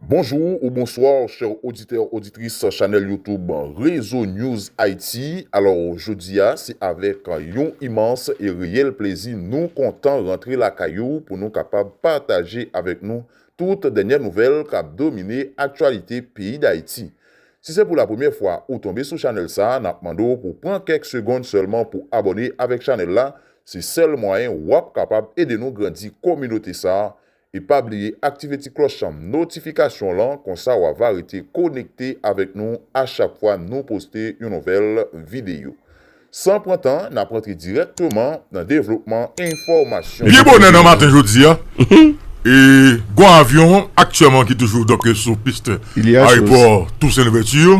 Bonjour ou bonsoir chers auditeurs auditrices chanel youtube Rezo News Haïti alors jodi a se avèk yon imans e reyèl plezi nou kontan rantre lakay ou pou nou kapab pataje avèk nou tout dènyè nouvèl kap domine aktyalite peyi Dayiti. Si se pou la premyè fwa ou tonbe sou chanèl sa nap mande w pou pran kèk segond sèlman pou abòne avèk chanèl la se sèl mwayen wap kapab ede nou grandi kominote sa E pa bliye aktive ti klòch notifikasyon lan konsa wa va rete konekte avèk nou a chak fwa nou poste yon nouvèl videyo. San pran tan nap rantre dirèkteman nan devlopman enfòmasyon yo. Byen bonè nan maten jodi a, gwo avyon aktyèman ki toujou doke sou pist ayewopò Tousen Louvèti yo.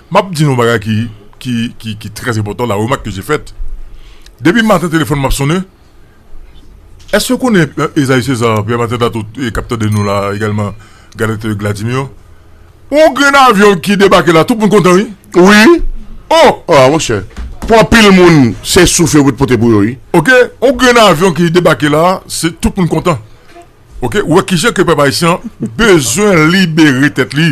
Map di nou yon bagay ki ki ki ki trè enpòtan la remak ke je fèt depi maten telefòn m ap sonnen èske w konnen Ezayi Seza Pyè Maten Datou k ap tande nou la egalman Galèt e Gladi Miyon yon grenn avyon ki debake la tout moun kontan wi wi oh oh monchè pou anpil moun se souf yo pou te pote pou yo wi ok yon grenn avyon ki debake la se tout moun kontan ok ou wè kijan ke pèp ayisyen an bezwen libere tèt li.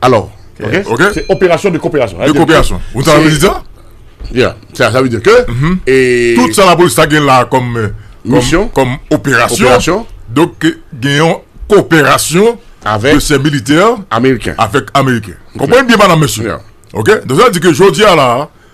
Alors, ok? Ok. Se operasyon de koperasyon. De koperasyon. Ou ta vle di sa? Ya. Sa vle di ke, e... Tout sa la polis ta gen la kom... Misyon. Kom operasyon. Operasyon. Donk, gen yon koperasyon... Avèk. De se militè. Ameriken. Avèk Ameriken. Konprann byen, madam, mesye. Ya. Ok? Donk, sa vle di ke jodi a la...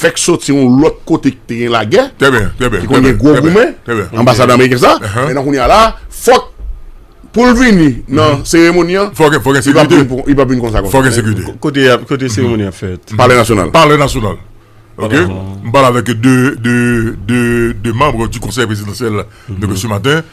Fèk soti yon lòt kote ki te gen lagè, ki konn gen gwo goumen, anbasad ameriken sa, men nan kounya la, fòk pou l vini nan seremoni an, li pa p vin konsa konsa. Kote seremoni an fèt? Palè Nasyonal. Palè Nasyonal. Ok. M pale avèk 2 manbre di konsèy prezidansyèl depi se maten.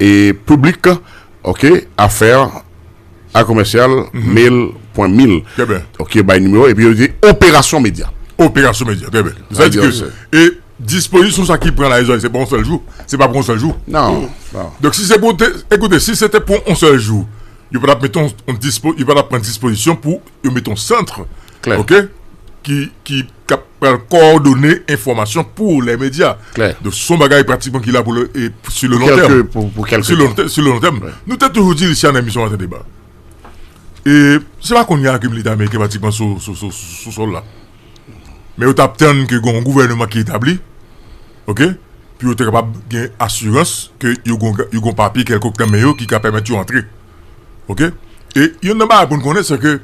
E public ok affaire a commercial mail pwen mil ok bay numéro epi yo di operasyon medya operasyon medya trè byen sa di ke e dispozisyon sa ki pran la se pa yon sèl jou se pa pou yon sèl jou nan donk si se pou te ekoute si se te pou yon sèl jou yo pa tap mete yon dispo yo pa tap pran dispozisyon pou Yo met yon centre ok ki ki kap pral kowòdone enfòmasyon pou lè medya donk son bagay pratikman ki la pou lè e si lè lon tèm pou kèlke si lè lon tèm si lè lon tèm nou te toujou di Luciana nan emisyon antèdeba e se pa kounya ke militè ameriken pratikman sou sou sou sou sòl la men yo tap tann ke gon gouvèneman ki etabli ok pou yo te kapab gen asirans ke yo gon yo gon papye kèlkòk nan men yo ki ka pèmèt yo antre. Ok, e yon nan bagay pou n konnen se ke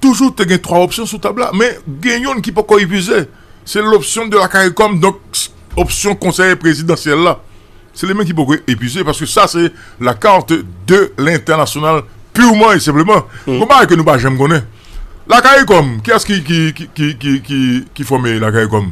toujou te gen 3 opsyon sou tab la men gen youn ki poko ipize se l opsyon de la karikom donk opsyon konsèye prezidansyèl la se li menm ki poko ipize paske sa se la karte de l entènasyonal piwman e senpleman yon bagay ke nou pa janm konnen la karikom kiyès ki fòme la karikom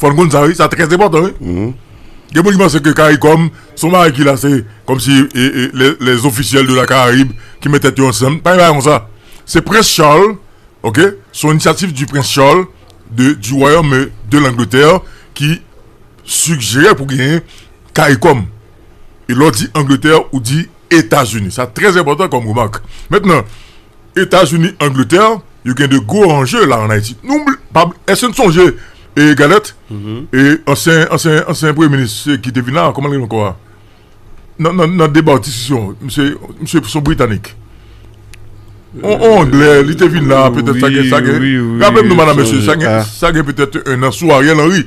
Fòn konn sa wi, sa trè enpòtan wi. Gen moun ki panse ke caricom son bagay ki la se kòm si les officiels de la caraïbe ki met tèt yo ansanm, pa gen bagay konsa. Se prince Charles ok, son initiative du prince Charles de du royaume de l'Angleterre ki sigjere pou genyen caricom. E lè w di Angletè, ou di Etazini. Sa trè enpòtan kòm remak. Mentnan, Etazini, Angletè, yo gen de gwo anje la an Ayiti. Èske nou sonje Galèt? E ansyen, ansyen, ansyen premye minis ki te vin la a, kòman l rele ankò a? Nan, nan, nan deba ou disisyon, misye, misye son Britanik. On, on Anglè, li te vin la a petèt sa gen, sa gen. Wi, wi, wi. Raple m non madan mesye, sa gen, sa gen petèt ennan sou Ariel Henry.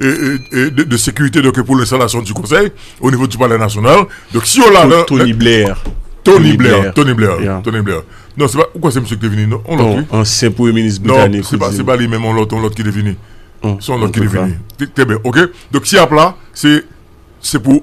de sécurité donc pour l'installation du conseil au niveau du palais national donc si yo la nan Tony Blair Tony Blair Tony Blair Tony Blair non se pa ou kwè se misye ki te vini non on lòt wi ansyen premye minis britanik non se pa se pa li menm on lòt on lòt ki te vini son lòt ki te vini trè byen ok donc si y ap la se se pou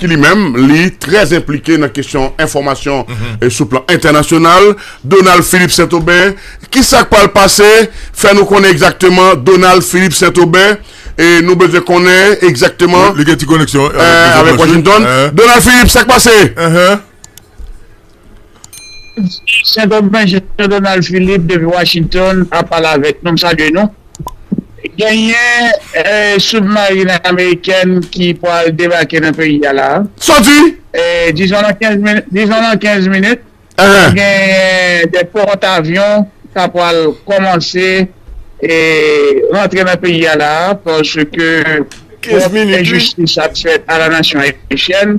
ki li menm li trè enplike nan kesyon enfòmasyon sou plan entènasyonal, Donald Philippe Saint-Aubin. Ki sa k pral pase? Fè nou konnen egzakteman Donald Philippe Saint-Aubin. E nou bezwen konnen egzakteman. Li gen ti koneksyon avèk Washington. Donald Philippe, sa k pase? Sentèn Benje Jean Donald Philippe depi Washington ap pale avèk nou, m salye nou. Genyen soubmarin amerikèn ki pral debake nan peyi a la a. Sa w di? Dizon nan 15 minit, dizon nan 15 minit, ap genyen de pòtavyon k ap pral kòmanse rantre nan peyi a la a paske twòp enjistis ap fèt a la nasyon ayisyèn.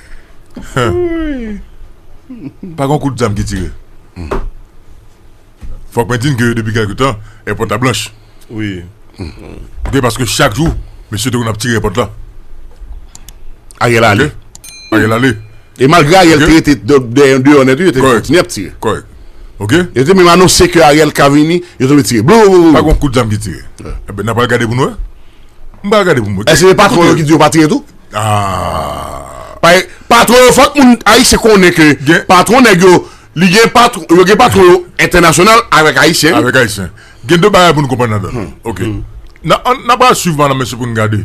Pa gen yon kout zam ki tire. Fòk mwen di n ke depi kèlke tan, èpòt la blanch. Wi. Oke, paske chak jou, mesye te konn ap tire èpòt la. Ariel ale. Ariel ale. E malgre Ariel te rete deyò nèt wi, yo te kontinye ap tire. Kòrèk. Oke. Yo te menm anonse ke Ariel ka vini, yo te vle tire. Blouuouuou. Pa gen yon kout zam ki tire. Enben, n a pral gade pou n wè. M pral gade pou m wè. Èske se patwon yo ki di yo pa tire tou? Paske patron yo fòk moun ayisyen konnen ke patron nèg yo li gen patron yo gen patron yo entènasyonal avèk ayisyen avèk ayisyen gen de bagay pou nou konprann ladan l ok nan an nan pral swiv mada mesye pou nou gade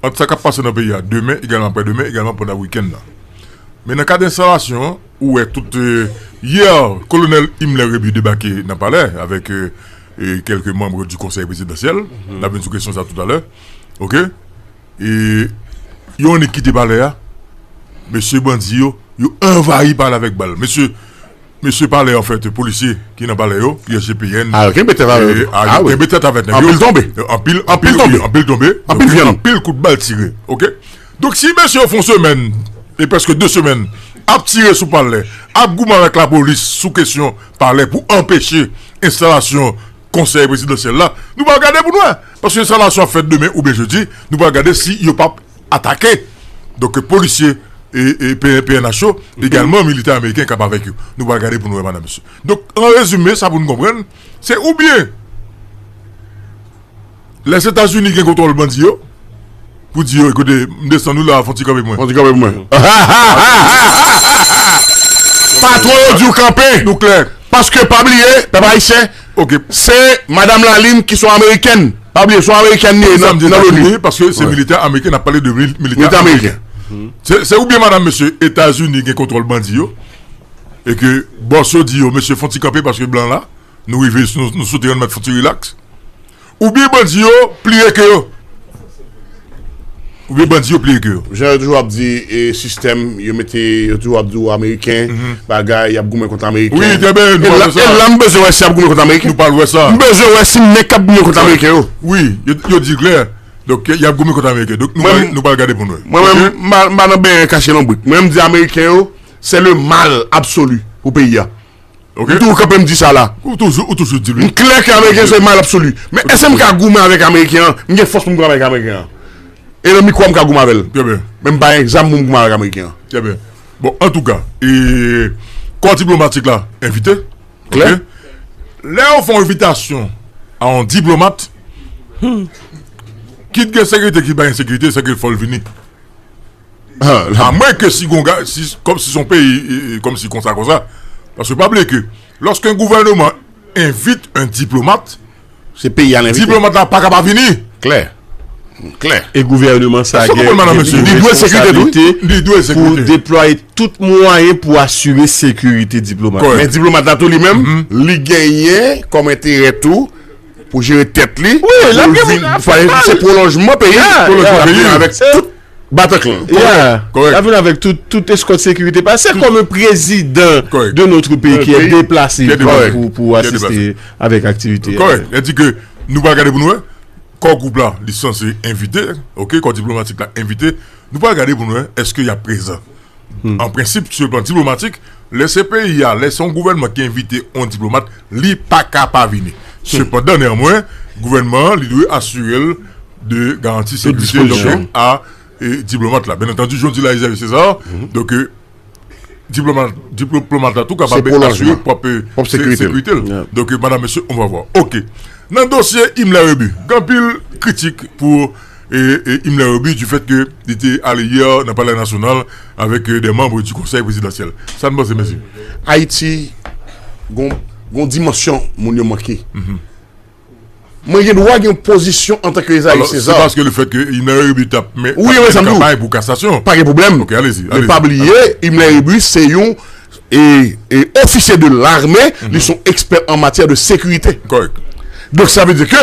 ant sa k ap pase nan peyi a demen egalman aprè demen egalman pandan wikenn nan men nan kad enstalasyon an ou wè tout yè kolonèl Imler Rébu debake nan palè avèk kèlke manb di konsèy prezidansyèl n ap vin sou kesyon sa toutalè. Ok e yo annik kite palè a mesye bandi yo yo anvayi palè a avèk bal mesye mesye palè a anfèt polisye ki nan palè yo ki nan GPN a yo kenbe tèt avèk yo a yo kenbe tèt avèk nèg yo anpil tonbe anpil anpil tonbe anpil tonbe anpil vyann anpil kout bal tire ok donk si mesye yo fon semèn e prèske 2 semèn ap tire sou palè ap goumen avèk lapolis sou kesyon palè pou anpeche enstalasyon Konsèy Prezidansyèl la, nou pral gade pou n wè. Paske enstalasyon ap fèt demen oubyen jedi, nou pral gade si yo pap atake. Donk polisye pnh yo, egalman militè ameriken k ap avèk yo. Nou pral gade pou n wè madan mesye. Donk an rezime sa pou n konprann, se oubyen. Lèzetazini gen kontwòl bandi yo pou di yo kote m desann ou la fon ti kanpe pou mwen. Fon ti kanpe pou mwen. Patwon yo di w kanpe. Nou klè. Paske pa bliye pèp ayisyen se madam Lalin ki son amerikèn. Pa bliye son amerikèn li ye nan loni. Poukisa m di Etazini paske se militè ameriken n ap pale de militè ameriken. Se ou byen madam mesye Etazini gen kontwòl bandi yo e ke bòs yo di yo mesye fon ti kanpe paske blan la. Nou rive nou soti rann mèt fouti rilaks Ou byen bandi yo pliye ke yo Ou byen bandi yo pliye ke yo. Jan yo toujou ap di e sistèm yo mete yo toujou ap di ou ameriken bagay yap goumen kont ameriken. Wi trè byen nou pral wè sa. E la m bezwen wè si yap goumen kont ameriken. Nou pral wè sa. M bezwen wè si nèg kap goumen kont ameriken yo. Wi yo di klè donk yap goumen kont ameriken donk nou pral gade pou n wè. Mwen menm m pa nan benyen kache lonbrik mwen m di ameriken yo se le mal absoli pou peyi a. Ok. M toujou kanpe m di sa la. Ou toujou, ou toujou di li. M klè ke Ameriken se mal absoli. Men eske m ka goumen avèk Ameriken an? M gen fòs pou m goumen avèk Ameriken an. E nan mikwo a m ka goumen avè l. Trè byen. Men m pa gen zam pou m goumen avèk Ameriken an. Trè byen. Bon, antouka, e kò diplomatik la envite. Klè. Ok. Lè yo fè yon envitasyon a yon diplomat, kit gen sekirite kit pa gen sekirite, sèke fò l vini. A mwen ke si gon gaz, kòm si son peyi, kòm si konsa konsa. Paske pa bliye ke, lòske yon gouvèneman envit yon diplomat, diplomat la pa ka pa vini. Klè. Klè. E gouvèneman sa gen yon responsabilite pou deplwaye tout mwayen pou asire sekirite diplomat. Kòrèk. Men diplomat la tou li menm, li genyen kòm enterè tou pou jere tèt li. Wi, lap gen moun ap fè mal. Se pwolonjman peyi. Pwolonjman peyi. Avèk tout. Bataclan. Yeah. Lap vin avèk tout tout eskòt sekirite pa. Se kòm yon prezidan de notre peyi ki e deplase pou asiste avèk aktivite. Kòrèk. Lè di ke nou pral gade pou nou wè. Kò gwoup la li sanse envite. Ok. Kò diplomatik la envite. Nou pral gade pou nou wè eske yap prezan. An prensip, sou plan diplomatik, lè se peyi a, lè se yon gouvènman ki envite yon diplomat, li pa ka pa vini. Sepandan, neanmwen, gouvènman an, li dwe asire l de garanti sekirite donk a diplomat la. Byennantandi, jan w di la Xavier Cesar, donk diplomat la tou kapab asire pwòp sekirite l. Donk, madanm mesye, on va vwa. Ok. Nan dosye Himmler Rébu, gen anpil kritik pou. Himmler Roby du fèt ke li te ale yè nan Palè Nasyonal avèk dè manbre du Konsèy Prezidansyèl. Sa n panse mèsi? Ayiti gon yon dimansyon moun yo manke. Mwen gen dwa gen yon pozisyon antan ke Esaïe César. Alò, se paske le fèt ke Himmler Roby t ap men kanpay pou kasasyon. Pa gen pwoblèm. Ok, alezi. Men pa bliye, Himmler Roby se yon ofisye de larme, li son ekspè an matyè de sekirite. Kòrèk. Donk sa vle di ke.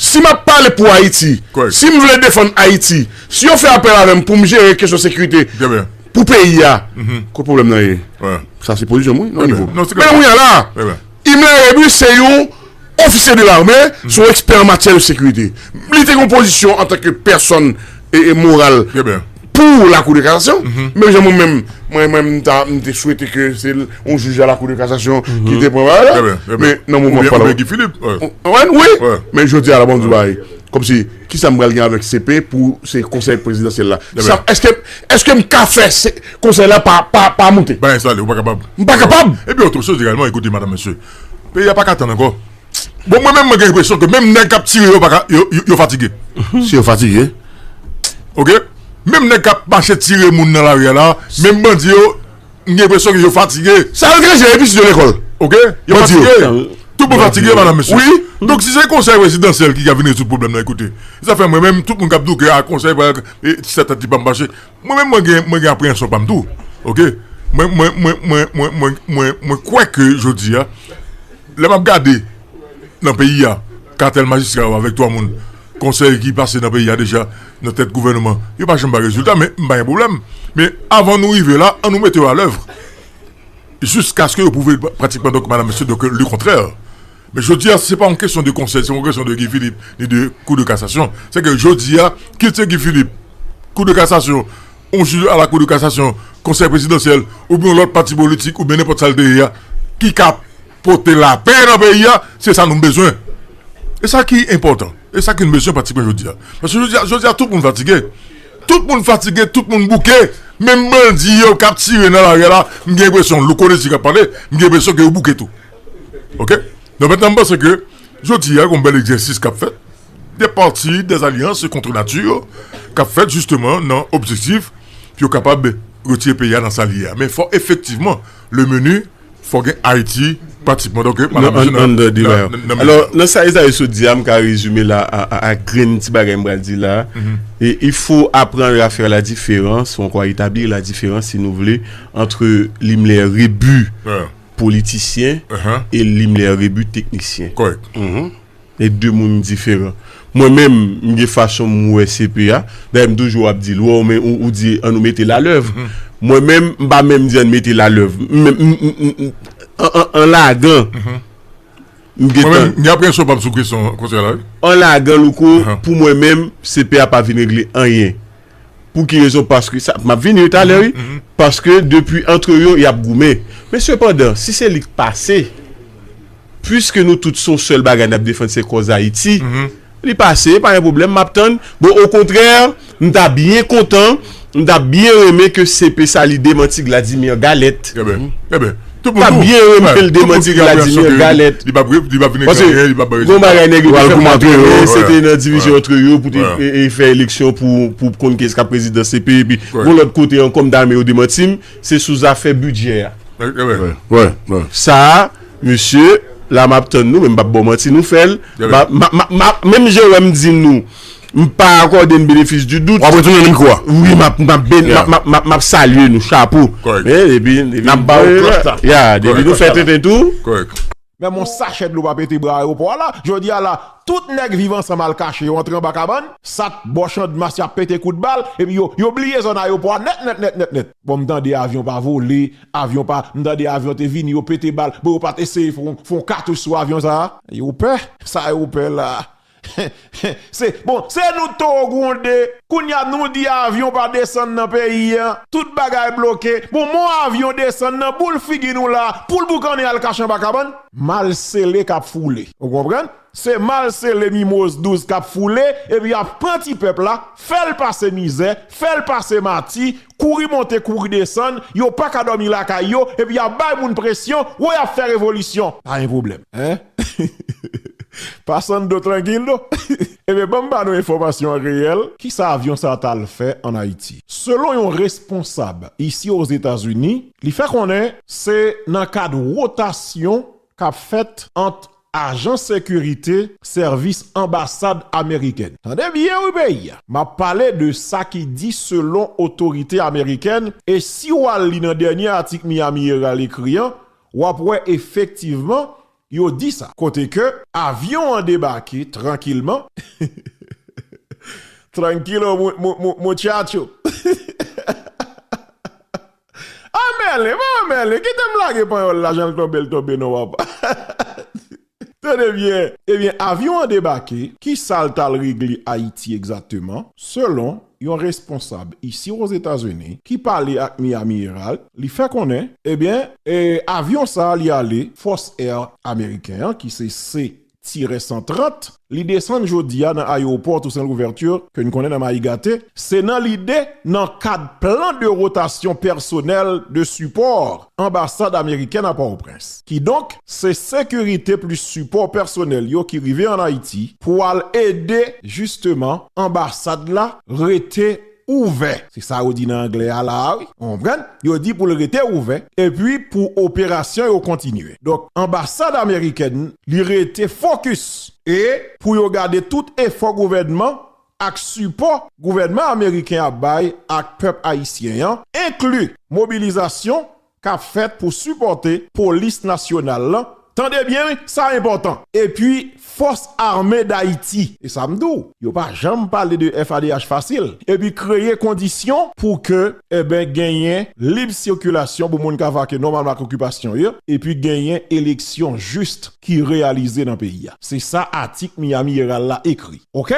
Si m ap pale pou Ayiti, si m vle defann Ayiti, si yo fè apèl avè m pou m jere kesyon sekirite pou peyi a, kot pwoblèm nan ye? Sa se pozisyon m wi, nan nivo. Men kounya la, Himmler Rébu se yon ofisye de lame, se yon ekspè an matyè de sekirite. Li te gen yon pozisyon antanke pèsòn moral. Pou la kou de kasasyon, menm jan mwen menm, mwen menm m te swete ke se yon jij a la kou de kasasyon ki te pran bagay la, men nan moman m ap pale la, wi, men jodi a la banm di w bagay, kòm si, ki sa m pral gen avèk CP pou se konsèy prezidansyèl la, èske m ka fè konsèy la pa moute? Bagay sa ale, ou pa kapab. M pa kapab! E pi otre chòz egalman, ekoute madanm mesye, peyi a pa ka tann ankò. Bon mwen menm mwen gen enpresyon ke menm nèg kap tire yo paka yo fatige. Si yo fatige. Ok menm nèg kap mache tire moun nan lari a la menm bandi yo m gen enpresyon ke yo fatige. Sa yo deja epi si yo lekòl. Ok yo fatige tout moun fatige madan mesye. Wi donk si se konsèy prezidansyèl ki ka vin rezoud pwoblèm nan ekoute zafè mwen menm tout moun kap di w ke a konsèy ti sa tèt li pa mache. Mwen menm mwen gen mwen gen apreyansyon pam tou ok mwen mwen mwen mwen mwen mwen mwen mwen kwè ke jodi a lè map gade nan peyi a katèl majistra yo avèk 3 moun konsèy ki pase nan peyi a deja nan tèt gouvèneman yo pa janm bay rezilta men m pa gen pwoblèm men avan nou rive la an nou mete yo alèv jiskaske yo pwouve pratikman donk madam mesye donk lekontrè. Men jodi a se pa yon kesyon de konsèy, se pa yon kesyon de Guy Philippe ni de kou de kasasyon. Se ke jodi a, kit se Guy Philippe, kou de kasasyon, yon jij a la kou de kasasyon, konsèy prezidansyèl, oubyen yon lòt pati politik, oubyen nenpòt sa l te ye a, ki ka pote lapè nan peyi a, se sa nou bezwen. E sa ki enpòtan, e sa ki nou bezwen pratikman jodi a. Paske jodi a, jodi a tout moun fatige. Tout moun fatige, tout moun bouke. Menm bandi yo k ap tire nan lari a la, m gen enpresyon, Louko Désir k ap pale, m gen enpresyon ke yo bouke tou. Ok, donk mètnan m panse ke jodi a gon bèl egzèsis k ap fèt de pati de zalyans e kontre nati yo k ap fèt jisteman nan objektif pou yo kapab retire peyi a nan sa li ye a men fò efektivman le meni fò gen Ayiti pratikman donk ke An anndan deba yo alò nan sa Ezayi sot di a m ka rezime la a grenn ti bagay m pral di la e il fo aprann a fè la diferans ou ankò a etablir la diferans si nou vle antre limlè rebu. politisyen e Limler Rebu teknisyen. E de moun diferan. Mwen menm, m gen fason m wè CP a. Dayè m toujou ap di l, wè w men ou di an nou mete l a lèv. Mwen menm, m pa menm di an mete l a lèv. An lagan, m gen tan. Gen apreyansyon pa m sou kesyon konsèy la wi. An lagan Louko, pou mwen menm, CP a pa vin regle anyen. Pou ki rezon? Paske sa, m ap vini yo talè wi, paske depi antre yo y ap goumen. Men sepandan, si se li k pase, puiske nou tout se yon sèl bagay n ap defann se kòz Ayiti, li pase, pa gen pwoblèm, m ap tann. Bon, okontrè, m ta byen kontan, m ta byen renmen ke CP sa li demanti Gladimir Galette. Enben. Enben. Mpa byen renmenl demanti Vladimir galèt Pase gon bagay nèg yo te fè mpa byen renmen se te nan divizyon antre yo pou te fè eleksyon pou konn kiyès kap prezidan CP epi gon lòt kote ankò mta renmen yo demantim se sou zafè bidjè a sa mesye la map tann nou men mpap baw manti nou fèl menm jan wèm di nou. M pa akòde n benefis di dout. Wap retounen nan mikwo a. Wi map map ben map map map map salye nou chapo. Kòrèk. Men depi depi Nap ba ou klòch la. Ya depi nou fè tenten tou. Kòrèk. Men yon sachè dlo pa pete bra ayewopò a la, jodi a la tout nèg viv ansanm al kache yo antre anba kabann, sat, bò chandmas y ap pete kout bal epi yo yo bliye zòn ayewopò a nèt nèt nèt nèt nèt. Bon m tande avyon pa vole, avyon pa, m tande avyon te vini yo pete bal, bon yo pat eseye fon fon katouch sou avyon sa a? Yo pè? Sa yo pè la? Se bon se nou toro gwonde kounya nou di avyon pa desann nan peyi an tout bagay bloke bon mon avyon desann nan boul figi nou la poul boukannen al kache anba kabann. Mal sele kap foule ou konprann se mal sele mimoz 12 kap foule epi yap pran ti pèp la fèl pase mizè fèl pase mati Kouri monte kouri desann, yo paka dòmi lakay yo, epi yap bay moun presyon, woy ap fè revolisyon, pa gen pwoblèm hein Passando tranquilo Ebyen banm ba nou enfòmasyon an reyèl. Kisa avyon sa ta al fè an Ayiti? Selon yon responsab isi Ozetazini, li fè konnen se nan kad wotasyon kap fèt ant Ajan sekirite sèvis anbasad amerikèn. Tande byen wi peyi a. M ap pale de sa ki di selon otorite amerikèn e si w al li nan dènye atik Miami Herald ekri an, w ap wè efektivman yo di sa. Kote ke avyon an debake trankilman, tranquilo muchacho. Ah Merlin, maman Merlin, kite m lage panyòl la jan l tonbe l tonbe non papa. Tande byen. Ebyen avyon an debake, kisa l t al regle Ayiti egzakteman? Selon yon responsab isi Ozetazini ki pale ak Miami Herald, li fè konnen, ebyen, avyon sa li ale Fòs Air Ameriken an ki se tirè 130, li desann jodi a nan ayewopò Toussaint Louverture ke n konnen nan mayi gate, se nan lide nan kad plan de rotasyon pèsonèl de sipò anbasad amerikèn a Pòtoprens. Kidonk, se sekirite plis sipò pèsonèl yo ki rive an Ayiti pou al ede jisteman anbasad la rete. ouvè. Se sa yo di nan anglè a la a wi. Ou konprann? Yo di pou l rete ouvè epi pou operasyon yo kontinye. Donk anbasad amerikèn li rete fokis e pou yo gade tout efò gouvènman ak sipò gouvènman ameriken ap bay ak pèp ayisyen an, enkli mobilizasyon kap fèt pou sipòte polis nasyonal lan, tande byen wi, sa enpòtan, epi fòs ame dayiti, e sa m di w, yo pa janm pale de FADH fasil, epi kreye kondisyon pou ke eben genyen lib sikilasyon pou moun ka vake nòmalman ak okipasyon yo, epi genyen eleksyon jis ki reyalize nan peyi a. Se sa atik Miami Herald la ekri. Ok!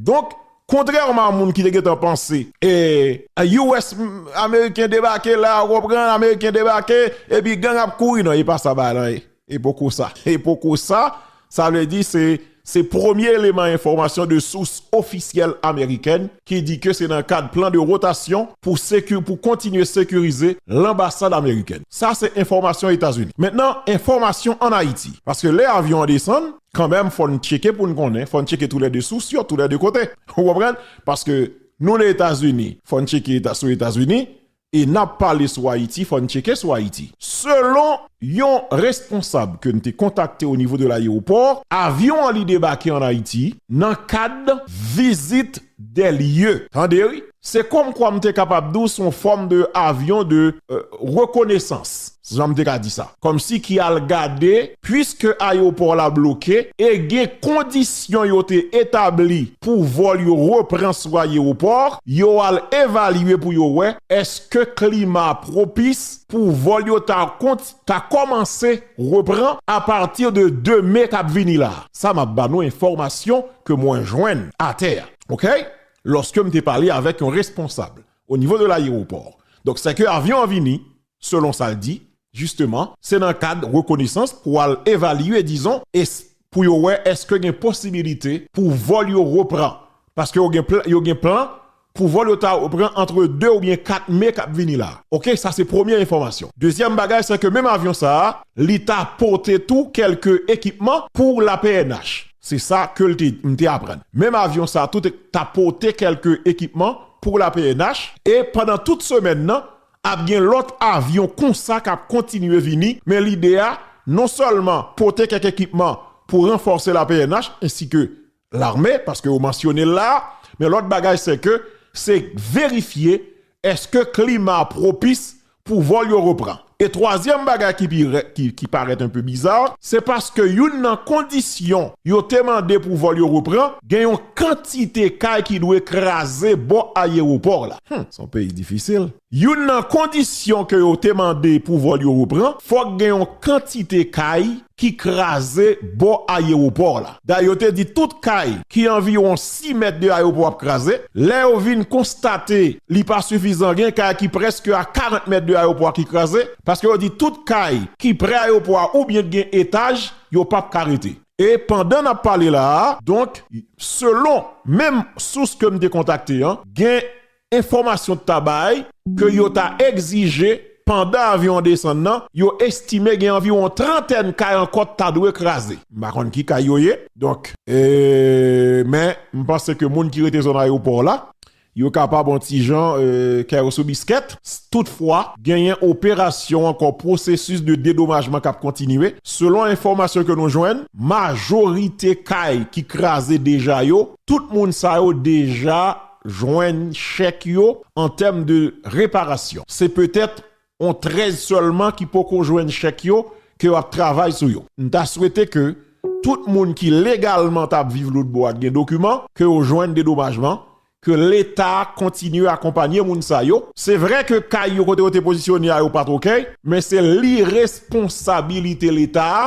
Donk, Kontrèman a moun ki te gentan panse eh US ameriken debake la ou konprann ameriken debake epi gang ap kouri nan e pa sa bagay lan ye e poko sa e poko sa sa vle di se se premye eleman enfòmasyon de sous ofisyèl amerikèn ki di ke se nan kad plan de rotasyon pou seki pou kontinye sekirize lanbasad amerikèn sa se enfòmasyon etazini mentnan enfòmasyon an ayiti paske lè avyon an desann. Kanmenm fò n tcheke pou n konnen, fò n tcheke tou lè 2 sous yo, tou lè 2 kote. Ou konprann? Paske nou nan Etazini, fò n tcheke sou Etazini, e n ap pale sou Ayiti, fò n tcheke sou Ayiti. Selon yon responsab ke n te kontakte o nivo de layewopò, avyon an li debake an Ayiti nan kad vizit des lieux tande wi. Se kòm kwa m te kapab di w se yon fòm de avion de rekonesans, si jan m te ka di sa, kòm si ki al gade puiske ayewopò la bloke e gen kondisyon yo te etabli pou vòl yo repran sou ayewopò, yo al evalye pou yo wè eske klima pwopis pou vòl yo ta konti. ka kòmanse repran apati de 2 me kap vini la. Sa map ba nou enfòmasyon ke mwen jwenn atè a ok lòske m te pale avèk yon responsab o nivo de layewopò donk se ke avyon an vini selon sa l di jisteman se nan kad rekonesans pou al evalye dizon e pou yo wè eske gen posibilite pou vòl yo repran paske yo gen plan Pou vol yo ta repran antre 2 oubyen 4 me kap vini la. Ok sa se premye enfòmasyon. Dezyèm bagay sè ke menm avyon sa a li ta pote tou kelke ekipman pou la pnh. Se sa kel te di, m te aprann. Menm avyon sa tou te ta pote kelke ekipman pou la pnh e pandan tout semèn nan ap gen lòt avyon konsa kap kontinye vini men lide a non sèlman pote kèk ekipman pou ranfòse la pnh ensi ke L'armée paske yo mansyone l la a, men lòt bagay se ke se verifye eske klima a pwopis pou vòl yo repran. E twazyèm bagay ki pi rè ki parèt enpe biza, se paske youn nan kondisyon yo te mande pou vòl yo repran gen yon kantite kay ki dwe kraze bò ayewopò la. Hum! S on peyi difisil. Youn nan kondisyon ke yo te mande pou vòl yo repran, fòk gen yon kantite kay ki kraze bò ayewopò la. Dayè yo te di tout kay ki anviwon 6 mèt de ayewopò ap kraze. Lè yo vin konstate li pa sifizan, gen kay ki prèske a 40 mèt de ayewopò a ki kraze, paske yo di tout kay ki pre ayewopò a oubyen ki gen etaj, yo pap ka rete. E pandan nap pale la a, donk selon menm sous ke m te kontakte an, gen Enfòmasyon ta bay ke yo ta egzije pandan avyon an desann nan, yo estime gen anviwon trantèn kay ankò k ta dwe kraze. M pa konn ki kay yo ye, donk, men m panse ke moun ki rete zòn ayewopò la, yo kapab yon ti jan kè yo sou biskèt. Toutfwa, genyen operasyon ankò pwosesis de dedomajman k ap kontinye. Selon enfòmasyon ke nou jwenn, majorite kay ki kraze deja yo, tout moun sa yo deja. jwenn chèk yo an tèm de reparasyon. Se petèt on 13 sèlman ki poko jwenn chèk yo ke yo ap travay sou yo. M ta swete ke tout moun ki legalman ta ap viv Loudbo ak gen dokiman ke yo jwenn dedomajman, ke leta kontinye akonpanye moun sa yo. Se vre ke kay yo kote yo te pozisyone a yo pat ok, men se liresponsabilite leta a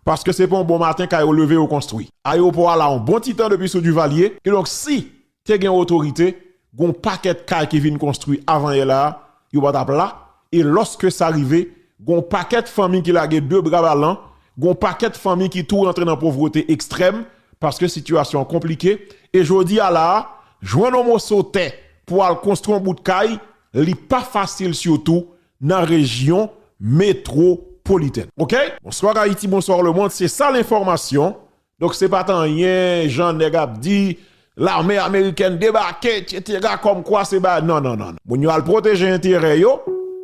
paske se pa on bon maten kay yo leve yo konstwi. Ayewopò a la on bon ti tan depi sou Duvalier, kidonk si Te gen otorite, gon pakèt kay ki vin konstwi avan yè la a, yo pa tap la, e lòske sa rive, gon pakèt fanmi ki lage de bra balan, gon pakèt fanmi ki tou rantre nan povrete ekstrèm, paske sitiyasyon an konplike, e jodi a la a, jwenn yon moso tè pou al konstwi yon bout kay, li pa fasil sitou nan rejyon metwopolitèn. Ok! Bonsoir Haïti, bonsoir le monde, se sa l'information Donk se pat anyen jan nèg ap di lame amerikèn debake etc kòm kwa se ba nan nan nan. Moun yo al pwoteje enterè yo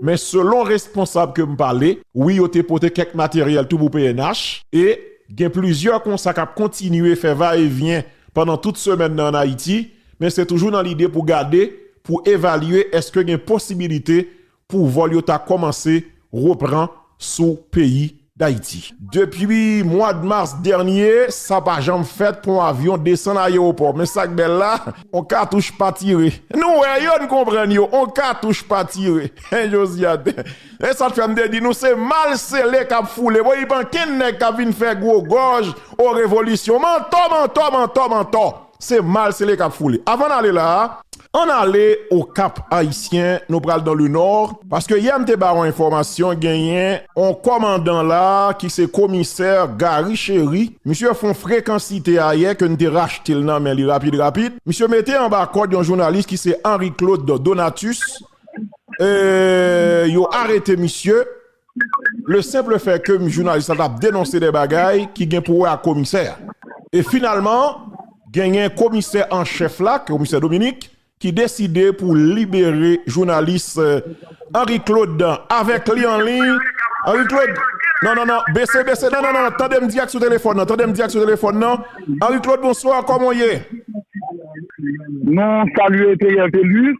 men selon responsab ke m pale wi yo te pote kèk materyèl tou pou pnh e gen plizyè konsa k ap kontinye fè va e vyen pandan tout semèn nan an Ayiti men se toujou nan lide pou gade pou evalye eske gen posibilite pou vòl yo ta kòmanse repran sou peyi Dayiti. Depi mwad mas dènye, sa pa janm fèt pou yon avyon desann ayewopò. Men sak bèl la, yon katouch pa tire. Nou wè yo, n konprann yo, yon katouch pa tire. Josiane, Se sa k fè m te di nou se mal sele k ap foule. Bon, ipan kenn nèg k ap vin fè gwo gòj, o revolisyon. Mantò, mantò, mantò, mantò! Se mal sele kap foule. Avan n ale la a, ann ale Okap Ayisyen, nou pral dan le nò, paske yè m te ba w enfòmasyon genyen on kòmandan la a ki se komisè Gary Chery, misye fon frekansite ayè ke n te rachte l nan men li rapid rapid, misye mete anba kòd yon jounalis ki se Henri Claude Donatus, e yo arete misye. Le senple fè ke m jounalis la t ap denonse de bagay ki gen pou wè ak komisè a. E finalman, genyen komisè an chèf la, komisè Dominik, ki deside pou libere jounalis Henri Claude avèk li an liy. Henri Claude, non, non, non, bese, bese, non, non, non, tande m di ak sou telefòn nan, tande m di ak sou telefòn nan. Henri Claude, bonswa, kòman w ye? Nou salye Theriel Thelus,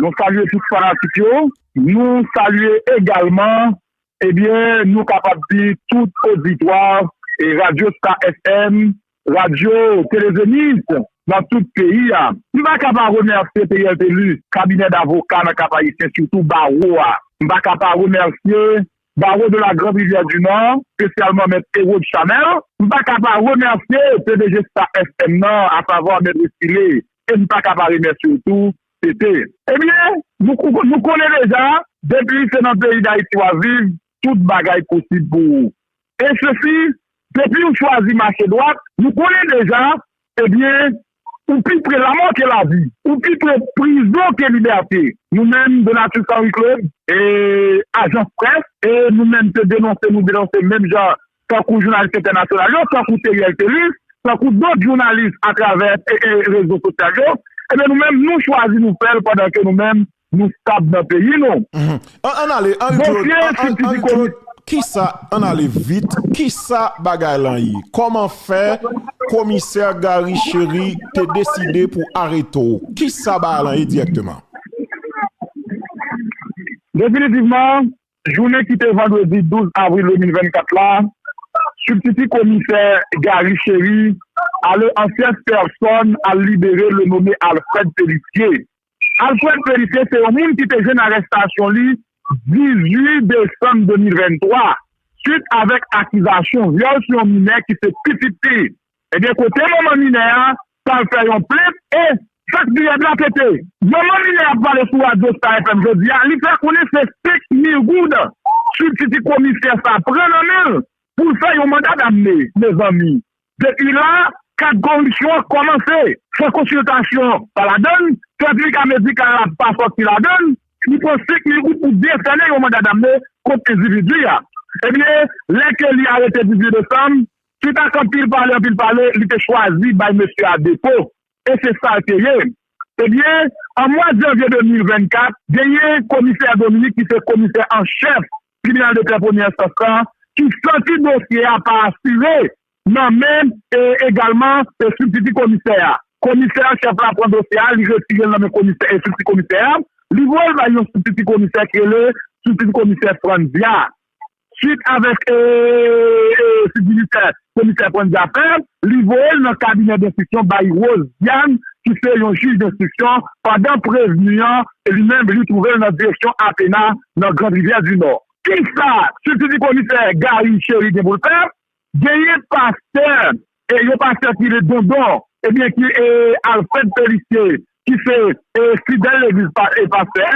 nou salye tout fanatik yo. Nou salye egalman ebyen nou kapab di tout oditwa Radyo Star FM, Radyo Tele Zenith nan tout peyi a. M pa ka pa remèsye Theriel Thelus, kabinè davoka nan Kap-Ayisyen sitou bawo a. M pa ka pa remèsye Barreau de la Grande Rivière du Nord, spesyalman Mèt Erod Chanel. M pa ka pa remèsye pdg Star FM nan asavwa Mèt Restylé e m pa ka pa remèsye w tou Tete, Ebyen, nou konnen deja, depi se nan peyi Dayiti w ap viv, tout bagay posib pou ou. E sesi, depi ou chwazi mache dwat, nou konnen deja, ebyen, ou pi pre lamò ke lavi, ou pi pre prizon ke libète. Nou menm, Donatius Henri Claude, e Ajans Près, e nou menm te denonse, nou denonse menm jan tankou jounalis entènasyonal yo, tankou Theriel Thelus, tankou dòt jounalis atravè rezo sosyal yo, ebyen nou menm nou chwazi nou fè l pandan ke nou menm nou stab nan peyi nou. Ann ale, Henri Claude, Henri Claude, kisa, ann ale vit, kisa bagay lan ye? Kòman fè komisè Garry Chéry te deside pou arete w? Kisa bagay lan ye dirèkteman? Definitivman, Jounen ki te vandredi 12 avril 2024 la, sibtiti komisè Garry Chéry ale an fyèf pèsòn al libere le nome Alfred Pélissier. Alfred Pélissier se yon moun ki te jwenn arestasyon li 18 desanm 2023, swit avèk akizasyon vyòl sou yon minè ki se pitit li. Ebyen kote manman minè a pou al fè yon plent e sak dirèd la tete. Manman minè a pale sou radyo star FM jodi a, li fè konnen se 5 mil goud sibtiti komisè sa pran nan men l pou l fè yon manda damne mezanmi depi la kad koripsyon an kòmanse san konsiltasyon pa ladan l, sètifika medikal la pa sòti ladan l, li pran 5 mil goud pou desène yon manda damne kont endividi a. Ebyen lè ke li arete 18 desanm Swit ak anpil pale anpil pale, li te chwazi bay mesye a depo, e se sa l te ye. Ebyen, an mwa janvye 2024, genyen komisè Dominique ki se komisè an chèf tribinal de pè premyè enstans la, ki santi dosye a pa asire nan men e egalman e sibtiti komisè a. Komisè an chèf la pran dosye a, li retire l nan men komisè e sibtiti komisè a, li voye l bay yon sibtiti komisè ki rele sibtiti komisè Frantzia. Swit avèk sivilitè komisè pran zafè, li voye l nan kabinè denstriksyon bay Rose Diane ki se yon jij denstriksyon pandan prevni an li menm li twouve l nan direksyon Athéna nan Grande Rivière du Nord. Kisa sibtiti komisè Garry Chéry gen pou l fè? Genyen pastè e yon pastè ki re dondon e byen ki e alfred pelicie ki se e fidèl legliz pa e pastè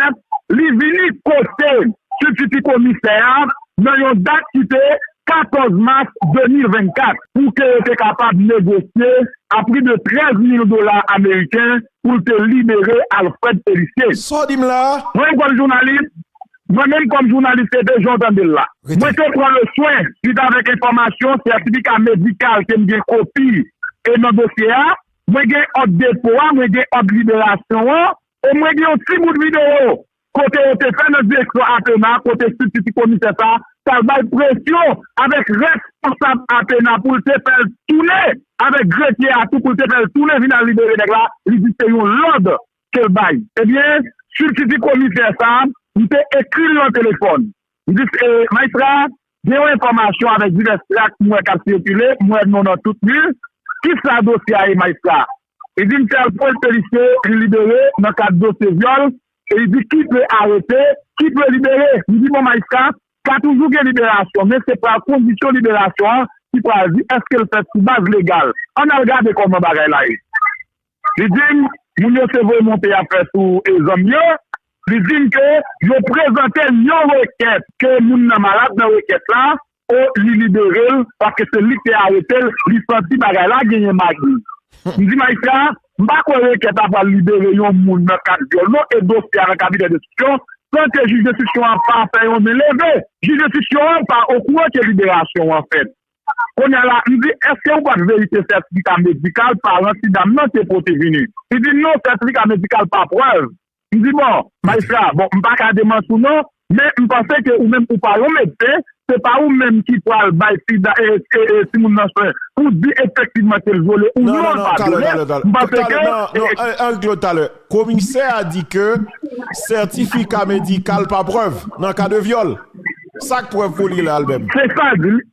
li vini kote sibtiti komisè a nan yon dat ki te 14 mas 2024 pou ke yo te kapab negosye a pri de 13 mil dola ameriken pou l te libere alfred pelicie. Sa w di m la a? Mwen yon jèn jounalis, Mwen menm kòm jounalis se de jan w tande l la. Mwen te pran le swen, suit avèk enfòmasyon, sètifika medikal ke m gen kopi e nan dosye a, mwen gen òd depo a, mwen gen òd liberasyon an e mwen gen yon ti bout videyo kote yo te fè nan direksyon APENA kote sibtiti komisè sa a t al bay presyon avèk responsab APENA pou l te fè l tounen avèk grefye a tou pou l te fè l tounen vin al libere nèg la, li di se yon lòd ke l bay. Ebyen, sui ki di komisè sa, m te ekri l lan telefòn. M di, Maistra, gen yon enfòmasyon avèk divès trak m wè k ap sikile, m wè non nan tout li. Ki sa dosye a ye, Maistra? Li di m fè l pwen Felisye, li libere nan kad dosye vyòl, e li di ki dwe arete, ki dwe libere. M di, Bon, Maistra, ka toujou gen liberasyon, men se pral kondisyon liberasyon an ki pral di èske l fèt sou baz legal. Ann al gade kòman bagay la ye. Li di m, moun yo te voye monte ap fè sou Ezonn yo, li di m ke yo prezante l yon rekèt ke moun nan malad nan rekèt la o li libere l paske se li ki te arete l, li santi bagay la genyen magi. M di majistra a, m pa kwè rekèt la pral libere yon moun nan kad vyòl non e dosye a nan kabinè denstriksyon san ke jij denstriksyon an pa fè yon men leve, jij denstriksyon an pa okouran ke liberasyon an fèt. Konya la, m di, èske ou pa t verifye sètifika medikal paran ti dam nan te pote vini? Li di, non, sètifika medikal pa prèv. M di, bon, majistra, bon, m pa ka demanti ou non, men m panse ke ou menm ou pa yon medsen, se pa ou menm ki pral bay ti da, e, e, e, timoun nan swen pou di efektivman ke l vyole ou non l pa vyole. M panse ke, e, e. An règ lò talè, komisè a di ke sètifika medikal pa prèv nan ka de vyòl. Sak prèv pou li la al menm? Se sal di li.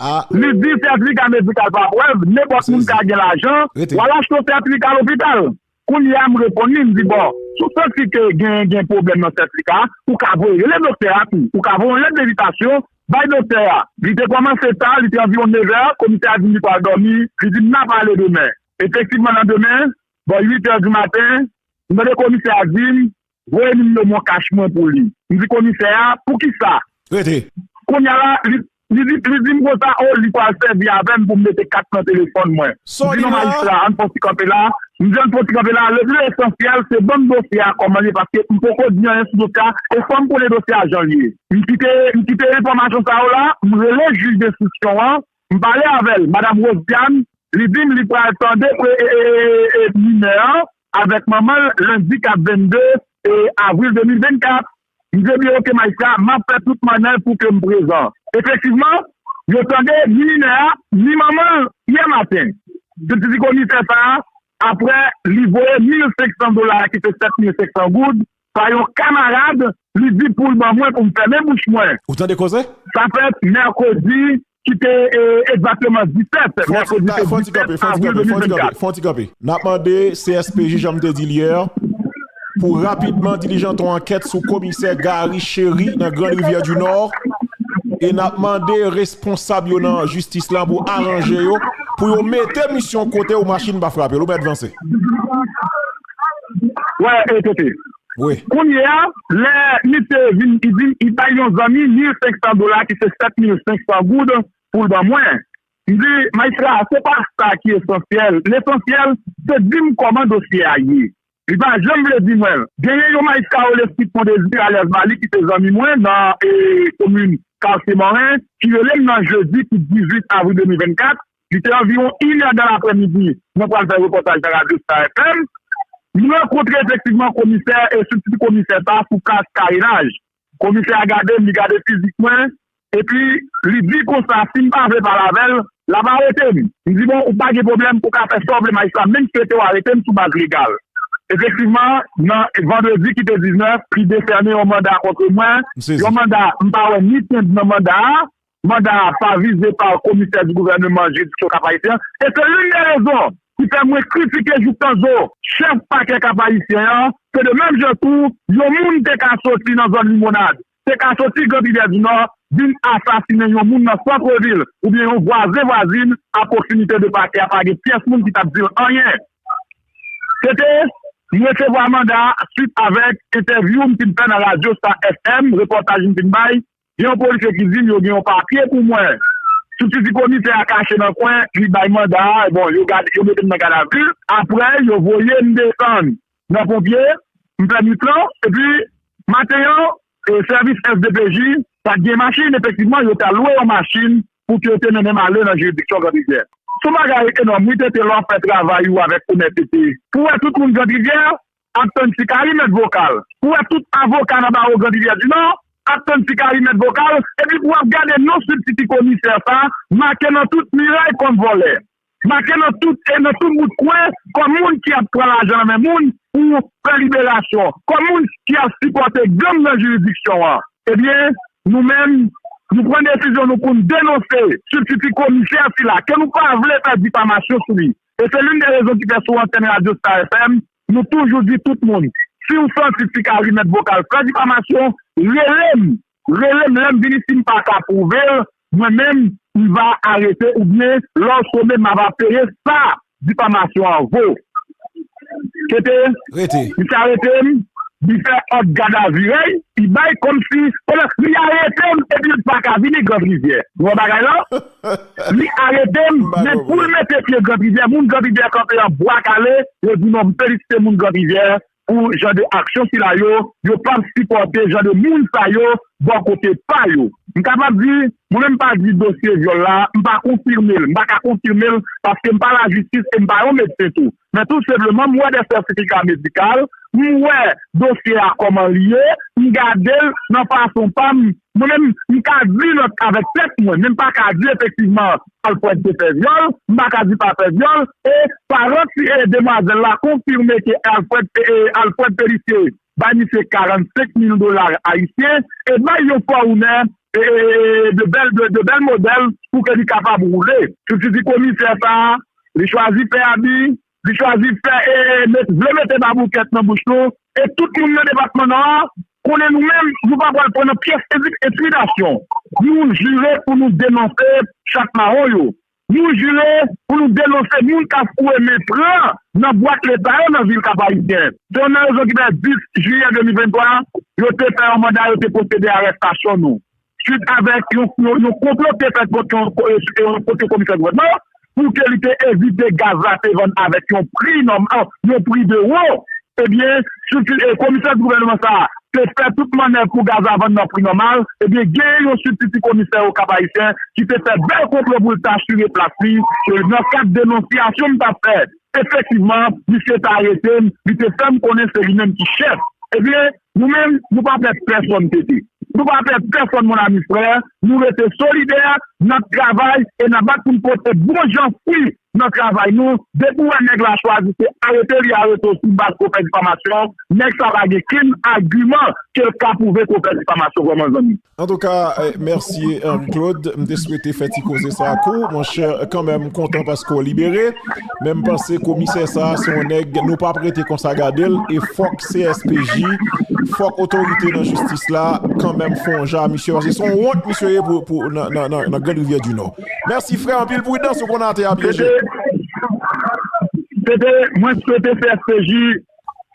Ah. Li di certificat médical pa prèv, nenpòt moun ka gen lajan, w al achte yon certificat lopital. Kounye a m reponn li, m di bon, si w santi ke gen gen pwoblèm nan certificat a, ou ka voye rele doktè a tou. Ou ka voye yon lèt envitasyon bay doktè a. Li te kòmanse ta, li te anviwon nevè, komisè a di m li pral dòmi, li di m n ap ale demen. Efektivman nan demen, bò uitè di maten, m tande komisè a di m, Voye nimewo moncash mwen pou li. M di komisè a, poukisa? Rete. Kounya la, li di, li di m konsa, oh, li pral sèvi avè m pou m mete kat nan telefòn mwen. Sa w di la? M di non majistra, ann fon ti kanpe la. M di ann fon ti kanpe la, le plus essentiel se ban m dosye a kòman l ye paske m poko di anyen sou dosye a e fò m konnen dosye a jan l ye. M kite, m kite enfòmasyon sa yo la, m rele jij denstriksyon an, m pale avè l, madam Rosiane, li di m li pral tande pre, e, e, e, e, minè an, avèk manman l lendi 4 22 avril 2024. Mze byen oke Maïca, m ap fè tout mannèv pou ke m prezan. Efektivman, yo tande ni minè a, ni manman l yè maten. Sibsidi komisè sa a, aprè li voye 1500 dola, ki se 7500 goud, pa yon kamarad li di pou l ban mwen pou m fèmen bouch mwen. Ou tande koze? Sa fèt mèkredi ki te egzakteman 17 mèkredi 17 avril 2024. Fon ti kanpe. N ap mande CSPJ jan m te di l yè pou rapidman dilijan ton ankèt sou komisè Garry Chéry nan Grande Rivière du Nord e n ap mande responsab yo nan jistis lan pou aranje yo pou yo mete misyon kote ou machin pa frape l ou mèt vanse. Wè e kote. Wi. Kounye a, lè misye vin, li di m, li bay yon zanmi mil senksan dola ki se sèt mil senksan goud pou l ban mwen. M di, Majistra, se pa sa ki esansyèl. Lesansyèl, se di m kòman dosye a ye. Li pa janm vle di mwen. Genyen yon Majistra yo rele Sipon Dezi alyas Mali ki se zanmi mwen nan komin Kartye Mòren ki rele m nan jedi ki 18 avril 2024 Li te anviwon inè dan lapremidi, mwen pral fè repòtaj nan radyo Star FM. M rankontre efektivman komisè e sibtiti komisè sa sou kas karenaj. Komisè a gade m, li gade fizik mwen, epi li di konsa si m pa vle pale avè l, l ap arete m. M di bon, ou pa gen pwoblèm, ou ka fè sa w vle majistra, men m swete w arete m sou baz legal. Efektivman, nan vandredi ki te 19, li desène yon manda kontre mwen, yon manda m pa wè ni tenb nan manda a. Manda a pa vize pa komisè di gouvèneman jiridiksyon Kap-Ayisyen an, e se youn de rezon ki fè mwen kritike jouk tan zo chèf pakè Kap-Ayisyen an, ke de menm jan tou, yon moun te ka soti nan zòn Limonad, te ka soti Grand Rivyè di Nò, vin asasinen yon moun nan santrevil, oubyen yon vwazen vwazin a pwoksimite de pakè a pa gen pyès moun ki t ap di l anyen. Se te, m resevwa manda a swit avèk entèvyou m fin fè nan radyo Star FM, repòtaj m fin bay, Gen yon polisye ki di m yo gen yon papye pou mwen. Sibtiti komisè a kache nan kwen, li bay manda a, bon yo gade, yo mete m nan gadavi. Aprè yo voye m desann nan ponpye, m fè nwit lan, epi maten an sèvis sdpj pat gen machin, efektivman yo tal lwe yon machin pou ke yo te mennen m ale nan jiridiksyon Grand Rivière. Son bagay enòm wi Tete lè w ap fè travay ou avèk onètete. Pou wè tout moun Grand Rivière, Ap tann ti kari mèt vokal. Pou wè tout avoka nan bawo Grand Rivyè di Nò, ap tann ti kari mèt vokal, epi pou wap gade non sibtiti komisè sa make nan tout miray kòm vòlè. Make nan tout e nan tout bout kwen kòm moun ki ap pran lajan nan men moun pou fè liberasyon, kòm moun ki ap sipòte gang nan jiridiksyon an. Ebyen, nou menm, nou pran desizyon nou poun denonse sibtiti komisè sila ke nou pa vle fè difamasyon sou li. E se linn de rezon ki fè sou antènn radyo Star FM, nou toujou di tout moun, si w santi ti Kari mèt vokal san difamasyon, rele m, rele m lè m vini si m pa ka pwouve l, mwen menm, m va arete oubyen lè w sone m ava peye sa difamasyon an vo. Kete, misye arete m, li fè òd gadavirèy, li bay kòmsi, kòmès li arete m epi l pa ka vini Grandrivyè. Nou wè bagay lan? Li arete m nèt poul mete pye gran rivyè moun gran rivyè kanpe an bwa kale yo di non m felisite moun gran rivyè pou jan de aksyon sila yo yo pap sipòte jan de moun sa yo bò kote pa yo m kapab di mwen menm m pa di dosye vyòl la m pa konfime l m pa ka konfime l paske m pa lajistis e m pa yon medsen tou Men tout senpleman m wè de sètifika medikal, m wè dosye a kòman li ye, m gade l nan fason pa m, mwen menm m ka di nan avèk tèt mwen, men m pa ka di efektivman Alfred te fè vyòl, m pa ka di pa fè vyòl e paran ti e demwazèl la konfime ke Alfred e Alfred Pélissier bay misye 45 mil dola ayisyen e bay yon fòune e de bèl de bèl modèl pou ke li kapab woule. Sou ti ti komisè sa a Li chwazi fè abi, li chwazi fè e vle mete baboukèt nan bouch nou. E tout moun nan depatman Nò a konnen nou menm nou pa pral pran nan pyès entimidasyon. Nou jire pou nou denonse chat mawon yo. Nou jire pou nou denonse moun k ap foure men pran nan bwat Leta yo nan vil Kapayisyen. Se youn nan rezon ki fè 10 jiyè 2023 yo te fè yon manda yo te pwosede a arèstasyon nou. Suit avèk yon konplo ki te fèt kont yon pote komisè gouvènman an pou ke li te evite gaz la te vann avèk yon pri nòm an, yon pri de wo, ebyen strikti komisè gouvènman sa a te fè tout mannèv pou gaz la vann nan pri nòmal, ebyen genyen yon sibtiti komisè Okap Ayisyen ki te fè bèl konplo pou l t asire plas li, nan kad denonsyasyon m t ap fè efektivman misye te arete m, li te fè m konnen se li menm ki chèf, ebyen. Nou menm nou pa pè pèsòn tete. Nou pa pè pèsòn mon ami frè, nou rete solidè, nap travay e nap bat poun pote bon jan fwi nan travay nou, depi ou wè nèg la chwazi se arete li arete w sou baz ke w fè difamasyon, nèg sa pa gen kenn agiman kel ka pwouve ke w fè difamasyon vrèman zanmi. Antouka mèsi Henri Claude, m te swete fè ti koze sa ak ou monchè kanmenm m kontan paske w libere men m panse komisè sa se yon nèg nou pap rete konsa gade l e fòk CSPJ fòk otorite nan jistis la kanmenm fè yon jan a misye paske se yon wont misye ye pou nan grand rivyè di nò mèsi frè anpil pridans ou konnen atè a pyeje. Pepe mwen swete CSPJ.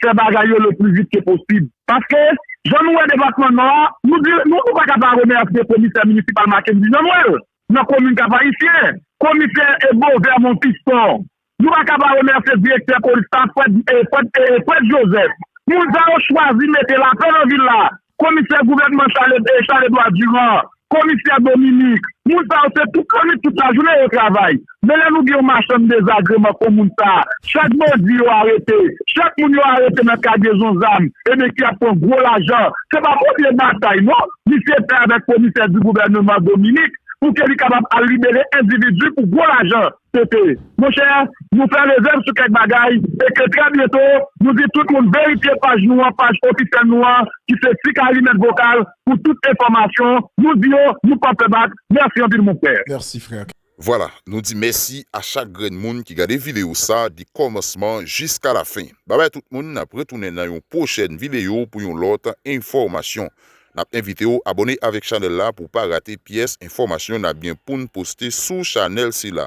fè bagay yo le pli vit ke posib. Paske, jan nou wè depatman Nò a, nou di, nou pa ka pa remèsye komisè minisipal Mackendy Jean-Noël, nan komin Kap-Ayisyen, komisè Beauvert Monfiston, nou pa ka pa remèsye direktè polis la Fred, Fred, Fred Joseph. Moun sa yo chwazi mete lapè nan vil la. Komisè gouvènman Charledois Durand, komisè Dominique, moun sa yo se tout lannwit tout lajounen yo travay. Men lè nou gen yon machann dezagreman kon moun sa, chak bandi yo arete, chak moun yo arete nan kagezon zam, ebyen ki ap pran gwo lajan, se pa premye batay non misye fè avèk komisè di gouvèneman Dominique pou ke li kapab al libere endividi pou gwo lajan. PP, Monchè, nou fè rezèv sou kèk bagay e ke trè byento nou di tout moun verifye paj nou an, paj ofisyèl nou an ki se Tik Alimèt Vokal pou tout enfòmasyon. Nou di yo nou pap fè bak. Mèsi anpil mon frè. Merci frère. Vwala, nou di mèsi a chak grenn moun ki gade video sa de kòmansman jiska lafen. Babay tout moun, nap retounen nan yon pwochèn video pou yon lòt enfòmasyon. Nap envite w abone avèk chanèl la pou pa rate pyès enfòmasyon nap gen poun poste sou chanèl sila.